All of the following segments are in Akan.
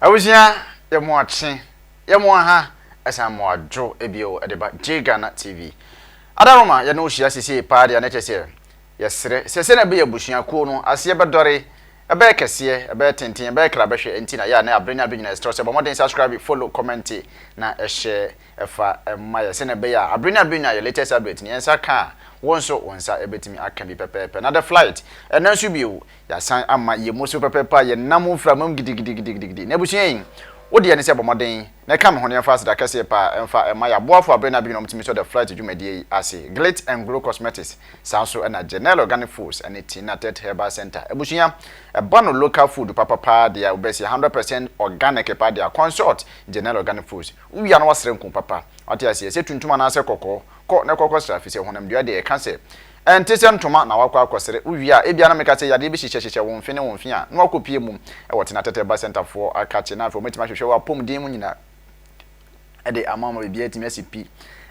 Abusua yɛ mo akye yɛ mo aha ɛsan mo adwo bio ɛde ba J-Ghana TV Adaroma yɛne wo hyia sesei paa deɛ na kyerɛ sɛ yɛsrɛ sɛ sɛnea ɛbɛyɛ abusua kuo no aseɛ bɛdɔre ɛbɛyɛ kɛseɛ ɛbɛyɛ tenten ɛbɛyɛ kra bɛhwɛ ɛnti na yɛ a na abre ne abre nyina yɛsrɛ wo sɛ bɔ mmɔden subscribe follow kɔmɛnte na ɛhyɛ ɛfa ɛma yɛ sɛnea ɛbɛyɛ a abre ne abre nyina yɛ latest update no yɛn nsa ka a wo nso wo nsa ɛbɛtumi aka bi pɛpɛɛpɛ na the flight ɛnna nso bio Yɛasan ama yɛn mu so pɛpɛɛpɛ a yɛnam mframa mu gidigidigidigidi. Na abusua yi, wo deɛ ne sɛ bɔ mmɔden na ɛka me ho na yɛmfa aseda kɛseɛ pa ara mfa mma yɛn aboafoɔ a bere ne abere nyinaa wɔtumi sɔ The Flight dwumadie yi ase, Glit and Glow Cosmetics, saa nso na Genel Organic Foods ɛne Tina Tet Herbal Centre. Abusua, ɛba no local food papa pa ara deɛ a wobɛsi, a hundred percent organic pa deɛ a, consult Genel Organic Foods. Wowie a na woasra nku papa. Wate aseɛ? Sɛ tuntum anaasɛ kɔkɔɔ, kɔ na kɔkɔsra, ɛfiri sɛ honamdua deɛ, yɛka sɛ, Ɛnte sɛ ntoma na woakɔ akɔsere. Wowie a, ebia na meka sɛ yadeɛ bi hyehyɛhyehyɛ wo mfe ne wo mfe a, na woakɔpue mu. Ɛwɔ tena tɛtrɛba sɛntafoɔ akakye, na afei wɔatumi ahwehwɛ w'apɔmuden mu nyinaa de ama wo ma biribiara atumi asi pi.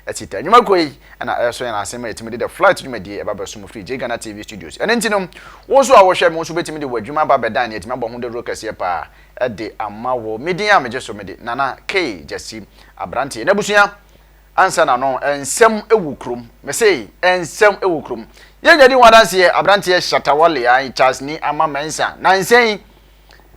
Asi ta. Nnwuma kuo yi na ɛresɔ yɛn asen ma yɛtumi de The Flight dwumadie ɛba bɛso mo firi JGhana TV Studios. Ɛno nti no, wo nso a wohwɛ me, wo nso wobɛtumi de w'adwuma aba abɛdan nea ɛtumi abɔ ho dawuro kɛseɛ pa ara de ama wo. Me din a megye so mede Nana K. Gyasi, aberanteɛ n'abusua. Ansa na no nsɛm wɔ kurom. Mese nsɛm wɔ kurom. Yɛnya di ho adanseɛ, aberanteɛ Shatta Wale ae Charles ni ama Mensa. Nansa yi,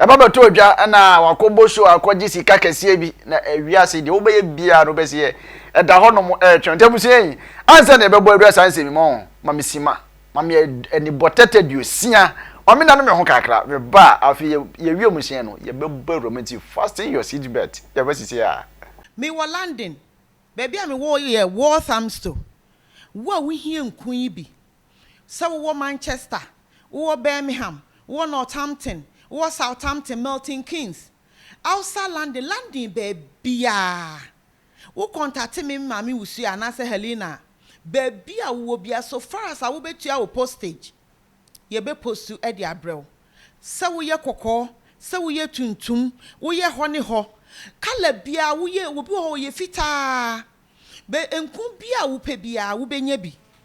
ɛba bɛtɔ odwa na wakɔbɔ show akɔgye sika kɛseɛ bi na wiase deɛ wobɛyɛ biara no wobɛseɛ ɛda hɔnom ɛretwɛn. Nti abusua yi, ansa na yɛbɛbɔ adwa saa nsɛm yi, mo ma me sima. Ma me anibɔtɛ tɛduosia. Ma me nane me ho kakra. Me ba, afei yɛ yɛ wiemhyɛn no, yɛ bɛ bɔ awuram nti fasten your seat belt. Yɛ bɛ sisi a. Me wɔ London. Baabi a me wɔ yɛ Walthamstow. Wo a wo hia nku yi bi, sɛ wo wɔ Manchester, wo wɔ Birmingham, wo wɔ Northampton, wo wɔ Southampton, Milton Keynes, outside London, London baabiara, Wo kɔntate me maame wusua anaasɛ Helena a, baabi a wowɔ biara so far as a wobetua wo postage, yɛbɛ postu de abrɛ wo. Sɛ woyɛ kɔkɔɔ, sɛ woyɛ tuntum, woyɛ hɔ ne hɔ, colour biara woyɛ, obi wɔ hɔ ɔyɛ fitaa, bɛ nku bi a wopɛ biara wobenya bi.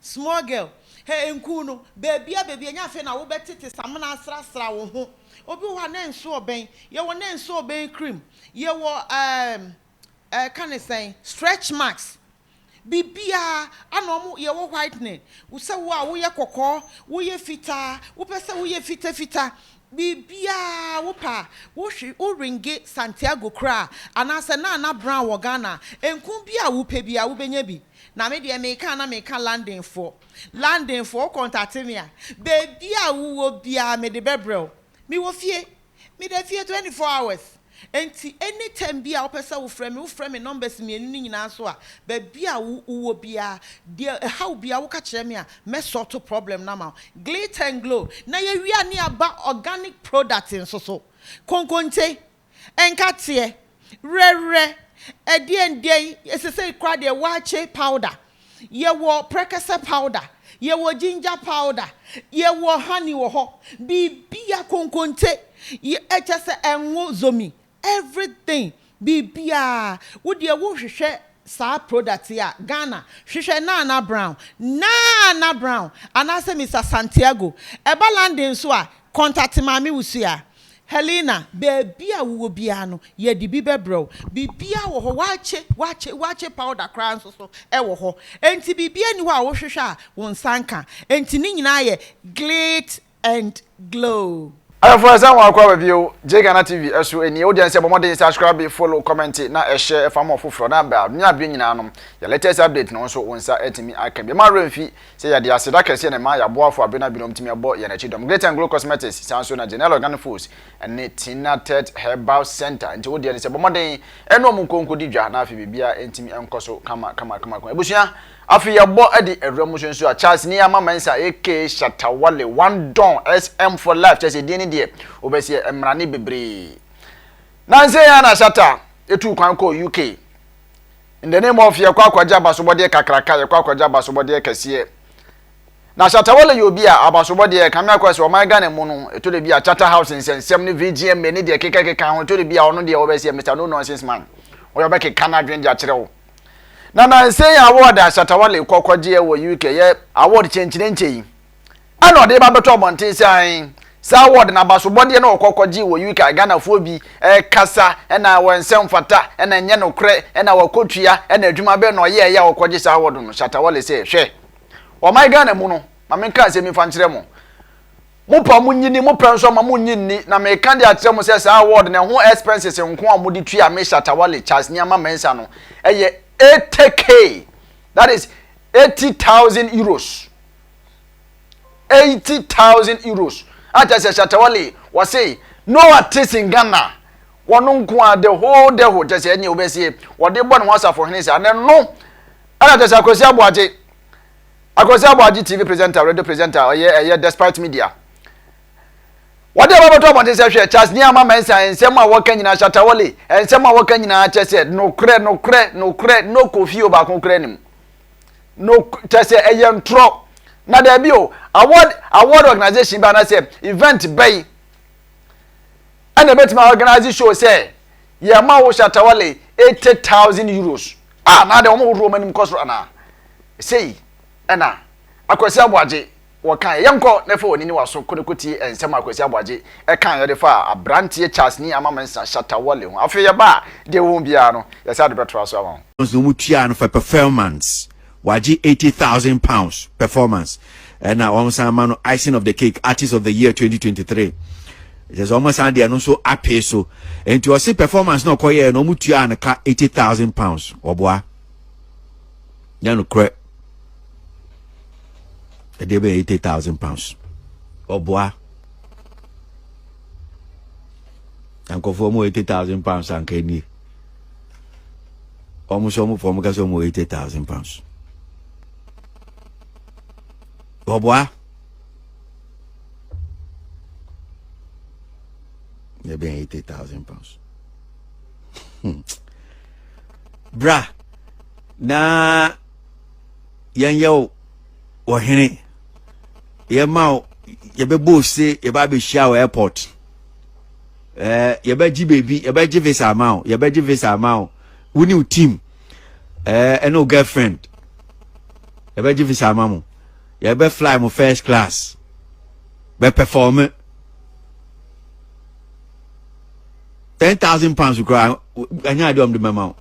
Small girl, hɛ nku no, baabia baabia ɛnyɛ afei na wobɛtete samena asrasra wo ho, obi wɔ hɔ a na nso ɔbɛn, yɛwɔ na nso ɔbɛn cream, yɛwɔ ɛɛm ɛɛka no sɛn, stretch marks, biribiaa ana ɔmo, yɛwɔ whitening, sɛ wo a woyɛ kɔkɔɔ, woyɛ fitaa, wopɛ sɛ woyɛ fita fita, Biribiara a wopɛ a, wohwe, wo ringe, Santiago koraa, anaasɛ Nana Brown wɔ Ghana a, enku bi a wopɛ biara wobɛnya bi. Na me deɛ meka a na meka Londonfoɔ. Londonfoɔ, wo kɔntate me a, baabi a wowɔ biara mede bɛbrɛ wo. Mewɔ fie. Meda fie twenty four hours. Enti any time biaa wopɛ sɛ wofrɛ me, wofrɛ me numbers mmienu no nyinaa so a, baabi a wo wowɔ biaa, deɛ ɛhaw biaa woka kyerɛ me a, mɛ sort problem no ama wo. Glit and Glow na yɛwie a ne yɛaba organic product nso so. Konkonte, nkateɛ, werɛwerɛ, ɛdeɛn deɛn, sesei koraa deɛ waakye powder. Yɛwɔ prɛkɛsɛ powder, yɛwɔ ginger powder, yɛwɔ honey wɔ hɔ, biribiara, konkonte, yɛ, kyerɛ sɛ ngo, zomi, everything, biribiara. Wo deɛ wohwehwɛ saa product yi a, Ghana, hwehwɛ Nana Brown, Nana Brown, anaasɛ Mister Santiago. Ɛba London nso a, contact Maame Wusu a. Helena, Baabi a wowɔ biara no, yɛde bi bɛbrɛ wo. Biribiara wɔ hɔ, wɔakye, wɔakye, wɔakye powder koraa nso so wɔ hɔ. Enti biribiara nni hɔ a wohwehwɛ a wo nsa nka. Enti ne nyinaa yɛ glit and glow. Adɔfo ɛsɛn wɔn akɔ aba bio gye Ghana TV ɛso ɛnie wo deɛ nsɛ bɔ mɔden subscribe follow comment na ɛhyɛ ɛfa ma ɔfoforɔ na bra nua bɛ nyinaa nom yɛ latest update no nso wo nsa ɛtumi aka bi ɛma werɛ mfi Sɛ yɛde aseda kɛseɛ na ɛma yɛn aboafo a bere no a binom tumi abɔ yɛn akyi dɔm, Great and Glo Cosmetics, saa nso na Janelle Organic Foods ne Tina Tett Herbal Centre, nti wo deɛ ne sɛ bɔ mmɔden ne wɔn nkɔ nkɔdi dwa na afei biribiara ntumi nkɔ so kama kama kama kama. Abusua, afei yɛbɔ de awura mu nso nso a, Charles Niyama Mensah aka Shatta Wale, One Don, SM for life, kyerɛ sɛ din no deɛ wobɛseɛ mmara ne bebree. Nansa yi ara na Shatta tuu kwan kɔɔ UK. In the name of yɛkɔ akɔgye abasobɔdeɛ kakraka, yɛkɔ akɔgye abasobɔdeɛ kɛseɛ. Na Shatta Wale yɛ obi a abasobɔdeɛ kame akɔ sɛ ɔman Ghana mu no, ɛtɔ da bi a Chatta House nsɛnsɛm ne VGMA ne deɛ ɛkekakeka ho, ɛtɔ da bi a ɔno deɛ ɔbɛyɛ sɛ Mister No Nonsense Man, ɔyɛ ɔbɛkeka n'adwene de akyerɛ wo. Na nansa yi award a Shatta Wale kɔ kɔgyeɛ wɔ UK yɛ award kyenkyenenkyɛ yi, Ɛna ɔde ba bɛtɔ abɔnten sɛ ahen. Saa word no abasobɔdeɛ na ɔkɔ kɔgyee wɔ UK Ghanafoɔ bi kasa ɛna wɔ nsɛ mfata ɛna nyɛ nokorɛ ɛna wakɔ tua ɛna adwuma bɛn na ɔyɛɛ yɛ a ɔkɔgye saa word no Shatta Wale sɛ hwɛ ɔman Ghana mu no ma menka asɛm bi mfa nkyerɛ mo mo pɛ a mo nyi ni mo pɛ nso a ma mo nyi nni na meka de akyerɛ mo sɛ saa word no ɛho expenses nko a mode tua me Shatta Wale Charles Nneɛma Mensah no ɛyɛ 80k that is 80,000 euros eighty thousand euros akyɛ sɛ shatawale wɔse no ɔte sin ghana wɔn nko a the whole the whole kyɛ sɛ ɛne wobɛsie wɔde bɔ ne ho asafo hene saa ne no ɛna kyɛ sɛ akwasi aboagye akwasi aboagye tv presenter radio presenter ɔyɛ ɛyɛ despite media wɔde ɛma bɛtɔ abɔnten sɛ hwɛ charles ni ama mɛnsa nsɛm a wɔka nyinaa shatawale nsɛm a wɔka nyinaa kyɛ sɛ nokorɛ nokorɛ nokorɛ no kofi o baako korɛ nim no kyɛ sɛ ɛyɛ ntorɔ na daabi o award award organization bi anaasɛ event bɛyi ɛna ɛbɛtumi a organize show sɛ yɛn ma wo shatawale eighty thousand euros a na de wɔn hohoro wɔn anim kɔ soro anaa sei ɛna akwasi aboagye Wɔkae, Yɛnkɔ na fa w'ani ne w'aso ko na kotie nsɛm a Kwasi Aboagye kae a ɔde faa aberanteɛ Charlesni Ama Mensah Shatta Wale ho. Afei yɛba a, deɛ wowɔ mu biara no, yɛsan de bɛtoa so ama wo. Once na wɔtua no for performance, wagye eighty thousand pounds performance, ɛna wɔsan ma no Icing of the Cake Artist of the Year twenty twenty three. Kyerɛ sɛ wɔsan de ɛno nso apee so. Enti ɔse performance na ɔkɔyɛɛ no wɔtua no ka eighty thousand pounds. Wɔboa. Nyɛ nokorɛ. Ɛdeɛ bɛyɛ eighty thousand pounds. Ɔboa. Nkɔfoɔ mu eighty thousand pounds anka nie. Wɔn nso wɔn fɔm kasa wɔn eighty thousand pounds. Ɔboa. Ɛdeɛ bɛyɛ eighty thousand pounds. Hmm. Bra. na yɛnyɛ wo ɔhene yɛma wo yɛbɛbɔ ose yɛba abɛhyia wɔ airport eh, yɛbɛgye baabi yɛbɛgye visa ama wo yɛbɛgye visa ama wo wo ne wo team eh, ɛne wo girlfriend yɛbɛgye visa ama mo yɛbɛ fly mo first class bɛ perform ten thousand pounds koraa ɛnyɛ adeɛ ɔm de mɛma wo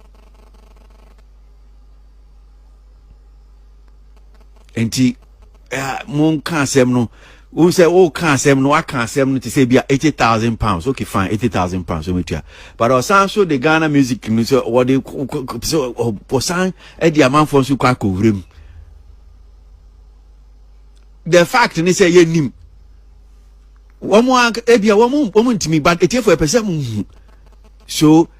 nti monka asɛm no wo sɛ woka asɛm no waka asɛm no te sɛ bia 80000 pounds okay fine 80000 pounds ɔmɛtua but ɔsan so de ghana music no sɛ wɔde sɛ ɔsan de amanfoɔ nso kɔ akɔwura mu the fact ne sɛ yɛnim wɔn a ebia wɔn wɔn ntumi but etiefo ɛpɛ sɛ mo hu so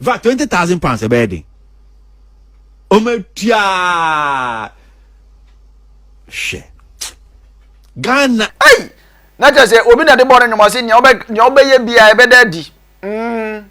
va twenty thousand pounds ɛbɛyɛ den ɔmo atua hwɛ ghana. ɛyi na kyerɛ sɛ obi na de bɔ ne nnwom ɔse nea ɔbɛyɛ biara ɛbɛda adi mm,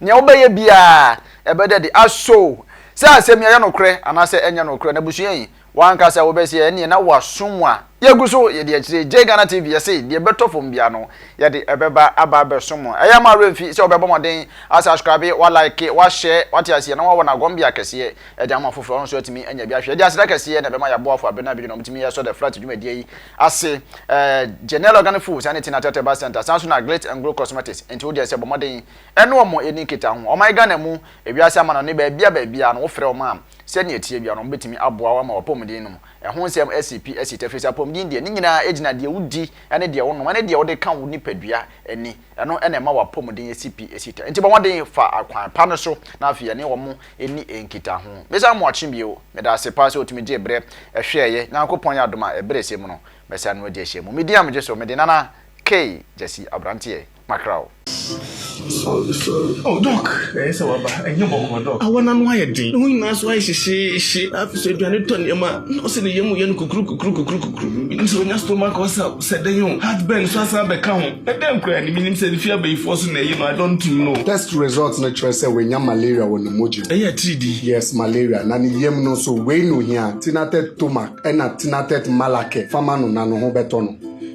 nea ɔbɛyɛ biara ɛbɛda adi aso sɛ asɛm yi ɛyɛ nokorɛ anaasɛ ɛnyɛ nokorɛ na busua yi Wanka sɛ wobɛsi a ɛneɛ na wasum a yɛgu so yɛdi akyire Jay Ghana TV yɛse deɛ ɛbɛtɔ fam biara no yɛde ɛbɛba aba abɛsom mo ɛyɛ ma werɛ mfi sɛ wobɛbɔ mɔden wa subscribe wa like wa share wate aseɛ na wawɔ nagombea kɛseɛ ɛde ama foforɔ nso atumi anya bi ahwɛ yɛde aseda kɛseɛ na ɛbɛma yɛaboafo abena abidwo na ɔmutumi ɛsɔ the flat dwumadie yi ase ɛɛ Janelle Organic Foods ɛne Tina Tete Bar Center san so na Glit and Glow Cosmetics enti wodeɛ sɛ bɔ mɔden ɛne ɔmo ɛni nkita ho ɔman Ghana mu ewiase amanɔne baabia baabia no wofrɛ ɔmo a Sɛnea ɛteɛ biara no, wɔbɛtumi aboa wo ama w'apɔmuden no mu ɛho nsɛm asi pi asi tɛfiri. Sɛ apɔmuden deɛ, ne nyinaa gyina deɛ wodi ne deɛ wonom ne deɛ wode ka wo nipadua ani. Ɛno na ɛma w'apɔmuden si pi si tɛ. Enti bɔ mmɔden fa akwan pa no so na afei yɛne wɔn nni nkitaho. Mesa Moakye bio, meda ase paa sɛ wotumi gyee berɛ hwɛeɛ. Nyankopɔn yɛ adom a ɛberɛ sɛ mu no, mɛsane no adi ahyia mu. Medin a megye so, mede Nana K. Gyasi Abranteɛ. makra o. Sorry sorry oh doc ɛyɛ sɛ waba ɛnyɛ bɔkɔɔ doc. Awɔ n'ano ayɛ den ne ho nyinaa nso ayɛ hyehyeehye afei nso aduane tɔ nneɛma na ɔsɛ ne yam yɛ no kukurukukurukukurukukuru menim sɛ onya stomach ulcer sɛ dɛn o heartburn nso asan abɛka ho na dɛn koraa ni menim sɛ efi abayifoɔ so na ɛyi no I don't know. Test result no kyerɛ sɛ wanya malaria wɔ ne mogya mu. Ɛyɛ atiridii. Yes malaria na ne yam no nso wei na ohia, Tinatet Tomac ɛna Tinatet Malaquer fa ma no na ne ho bɛtɔ no.